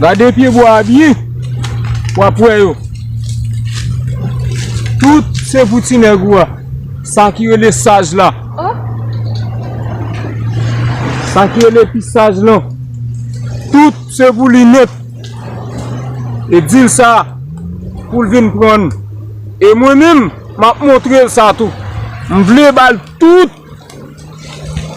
Gade pye bwa a byen, w ap wè yo. Tout se pou ti nèg ou a. Sa ki rele saj la. Sa ki rele pi saj lan. Tout se pou li nèt. E di l sa pou l vin pran. E mwen menm, m ap montre l sa tou. M vle ba l tout.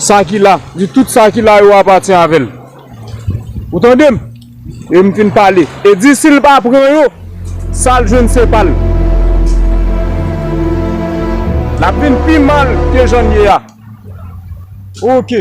Sa ki la, di tout sa ki la yo apatyen avè l. Ou tande m? E m fin pale. E di si l pa pran yo, sa l jwenn se pa l. L ap vin pi mal ke jan l ye a. Oke.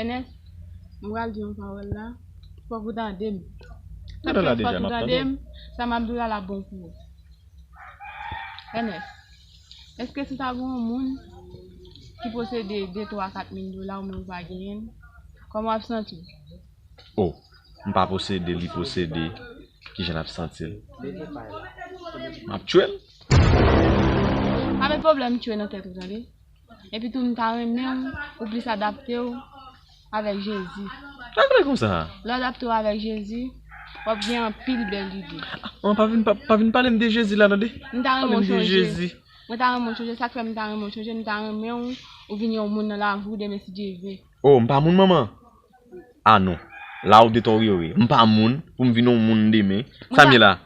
Enès, m pral di yon pawòl la, fòk ou tande m. Sa k fè fòk ou tande m, sa m ap di w la la bon pou ou. Enès, èske si ta gen yon moun ki posede de twa kat mil dola oumenm ou pa genyen l, kòman w ap santi w? O, m pa posede, li posede, ki jan l ap santi l? M ap tchwe l! Pa met pwoblèm tchwe nan tèt ou tande. Epi tou m ta renmen w ou plis adapte w avèk Jezi. Sa klè konsa? Lè w adapte w avèk Jezi, w ap gen anpil bèl lide. An, pa vin pale m de Jezi la tande. M ta renmen w chonje. Mwen ta renmen w chonje. Sa k fè m ta renmen w chonje, m ta renmen w ou vin yon moun nan lavi w demen si Dye vle. O, m pa moun manman? A non, la w detoryoreMpa moun pou m vin yon moun demen. Sa m ye la?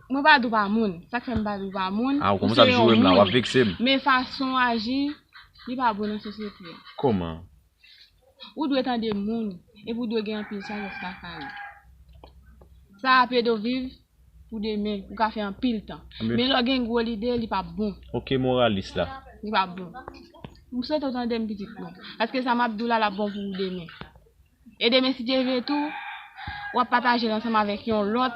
Mwen pa di w pa moun. Sa k fè m pa di w pa moun, ou se yon moun. Men fason w aji, li pa bon nan sosyete a. Kòman? Ou dwe tande moun, epi ou dwe gen anpil sajès lakay ou. Sa ap ede w viv pou demen, ou ka fè anpil tan. Men lè w gen gwo lide, li pa p bon. Ok moralis la. Li pa p bon. M swete w tande m pitit mwen. Paske sa m ap di w la, l ap bon pou ou demen. E demen si Dye vle tou wap patajel ansanm avèk yon lòt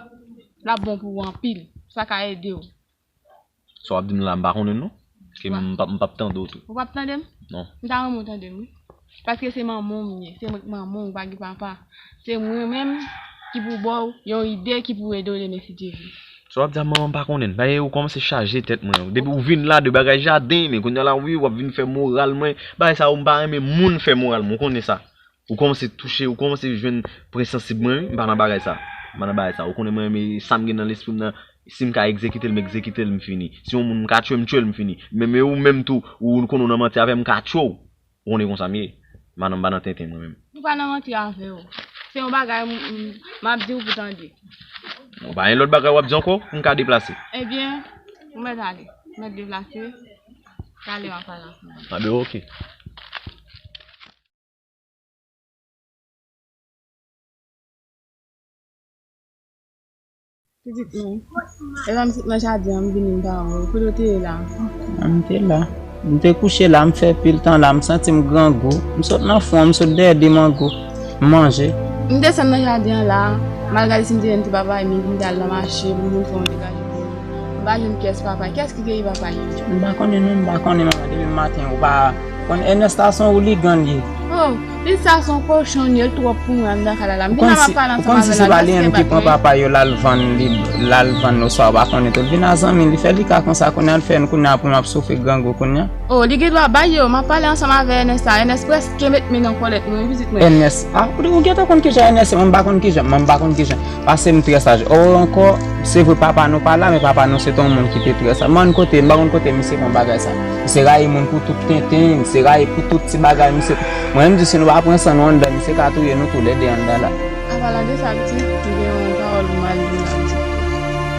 lap bon pou ou anpil, sa ka edew. Sa wap dim la m pa konnen l non, paske m pap m pap tande w tou. Ou pap tande m? Non. M ta renmen w tande m wi. Paske se manman w m ye, se mwen ki manman w, ou pa gen papa. Se mwen menm ki pou ba w yon ide ki pou ede w demen si Dye vle. Sa wap di a manman m pa konnen l. Bae ou kòmanse chaje tèt mwen. Depi ou vin la de bagay jaden, men kounya la wi wap vin fè moral mwen. Bagay sa yo m pa renmen moun fè moral mwen, ou konnen sa. Ou kòmanse touche, ou kòmanse jwenn pwen sansib mwen wi, m pa nan bagay sa, m pa nan bagay sa, ou konnen mwen renmen sa m gen nan lespri m nan, si m ka egzekite l m egzekite l m fini, si yon moun m ka tchwe m tchwe l m fini, men men ou menm tou ou konnen ou nan manti avè m m ka tchwe w, ou konnen konsa m ye, m pa nan m pa nan tenten mwen menm. M pa nan manti avè w, se yon bagay m m ap di w pou w tande. Bon pa gen lòt bagay w ap di ankò pou m ka deplase? Ebyen, ou mèt ale, ou mèt deplase, talè m ap pale avè w. Abe ok. Pitit mwen, epa m sot nan jaden an m vini m pa wè w, kote w te ye la? M te la. M te kouche la, m fè pil tan la, m santi m grangou. M sot nan fon an, m sot dèyè de mango, m manje. M desann nan jaden an la, m al gade si m te jwenn ti papay mi pou m te al nan mache pou m vin fè yon ti kaje pou li. M pa jwenn pyès papay. Kiyès ki keyi papay yo? M pa konnen non, m pa konnen manman depi maten ou pa. Bon Ernest sa son ouligan li ye. Oh Pitit sa son kochon li el trop pou mwen andan kay la m vin ava pale ansanm avèl la lè fè bak mwen. Papa yo lal vann li lal vann oswa ou pa konnen tou li vin a zanmi li fè li ka konsa kounya li fè kounya pou map soufri grangou kounya. Oh li gen dwa bay yo map pale ansanm avè Ernest la Ernest preske met men nan kòlèt mwen wi pitit mwen. Ernest ah ou gentan konn kijan Ernest ye mwen m pa konn kijan mwen m pa konn kijan. Pase m trè saj oo ankò se vre papa nou pa la men papa nou se te yon moun ki te trè saj m'en kote m pa konn kote misye pran bagay sa misye rayi moun pou tout tenten misye rayi pou tout ti bagay misye mwen menm m di si nou pa pran san nou anndan misye ka touye nou tou lè 2 anndan la. Apalan de sa pitit m gen yon pawòl m mal di m tap di.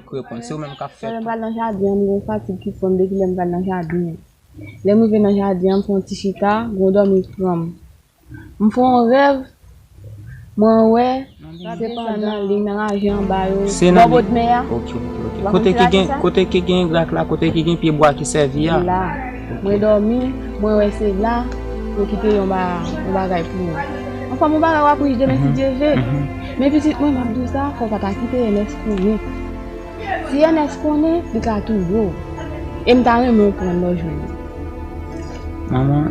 Chak lè m pral nan jaden an, m gen yon fatig ki pran m depi lè m pral nan jaden an. Lè m rive nan jaden an, m fè yon ti chita, gwo dòmi pran m. M fè yon rèv, mwen wè se pandan li nan raje anba yo, bò bodmè a. Ou pa konn ki raje sa? Kote ki gen grak la, kote ki gen pye bwa ki sèvi a. Se la. Mwen dòmi, mwen wè se la yo kite yon bagay pou mwen. Anfòm yon bagay w ap rich demen si Dye ve. Men pitit mwen, m ap di w sa, fò w pa ta kite. pou wi. Si Ernest konnen, li ka touye w. E m ta renmen w pran lòj mwen yo. Manman,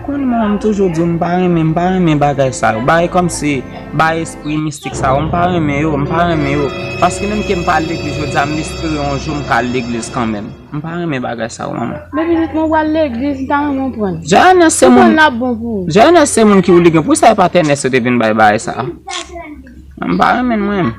konn mwen m toujou di w m pa renmen, m pa renmen bagay sa yo. Bagay kòmsi, bagay espri mistik sa yo, m pa renmen yo, m pa renmen yo. Paske menm ke m pa al legliz jodi a, m espere yon jou m ka al legliz kanmenm. M pa renmen bagay sa yo, manman. Men pitit mwen, w al legliz, m ta renmen w pran l. Jè Ernest se moun. Ou konn l ap bon pou ou. Jè Ernest se moun ki w li gen. Poukisa e pa t Ernest yo te vin bay bagay sa a? M pa renmen l mwen menm.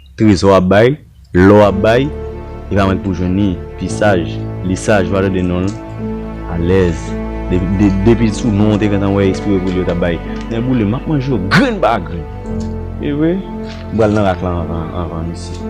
Trezò ap bay, lò ap bay, li pa mank pou jwenn li, pi saj, li saj ou pa tande non l, alèz, depi sou non ou te gentan wè espire pou li yo ta bay, nè boule m ap manje yo grenn pa grenn, e wi, m pral nan rak lan anvan misye.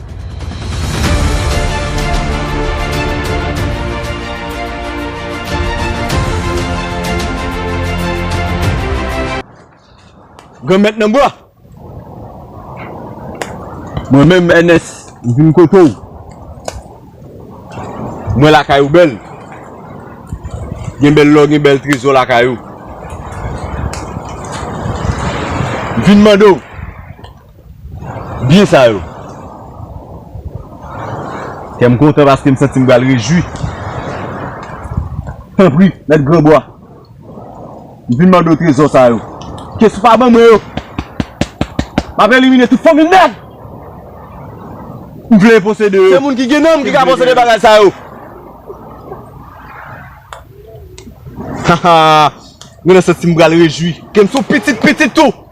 Granmèt nan bwa! Mwen menm Ènès, m vin kote w. M wè lakay ou bèl. Gen bèl lò, gen bèl trezò lakay ou. M vin mande w. byen sa yo. Kè m kontan paske m santi m pral rejwi. Tanpri, mèt Granbwa, m vin mande w trezò sa yo. Kès ou pa ban mwen yo, m ap elimine tout fanmi nèg m vle posede yo. Se moun ki gen nanm ki ka posede bagay sa yo. Hahaa, mwen nan santi m pral rejwi. Kè m se yon pitit pitit ou.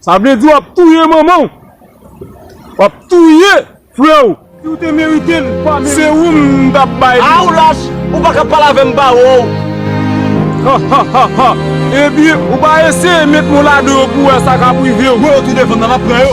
Sa vle di wap touye manmanw. Wap touye frew. Siw te meritel pa meritel. Se ou m tap bay li. Ah ou lach ou paka pale avem ba wou. Hahahahaa ebyen ou pa eseye met men w ladan yo pou wè sa kap rivew. Wè yo tou devan nan lap pran yo.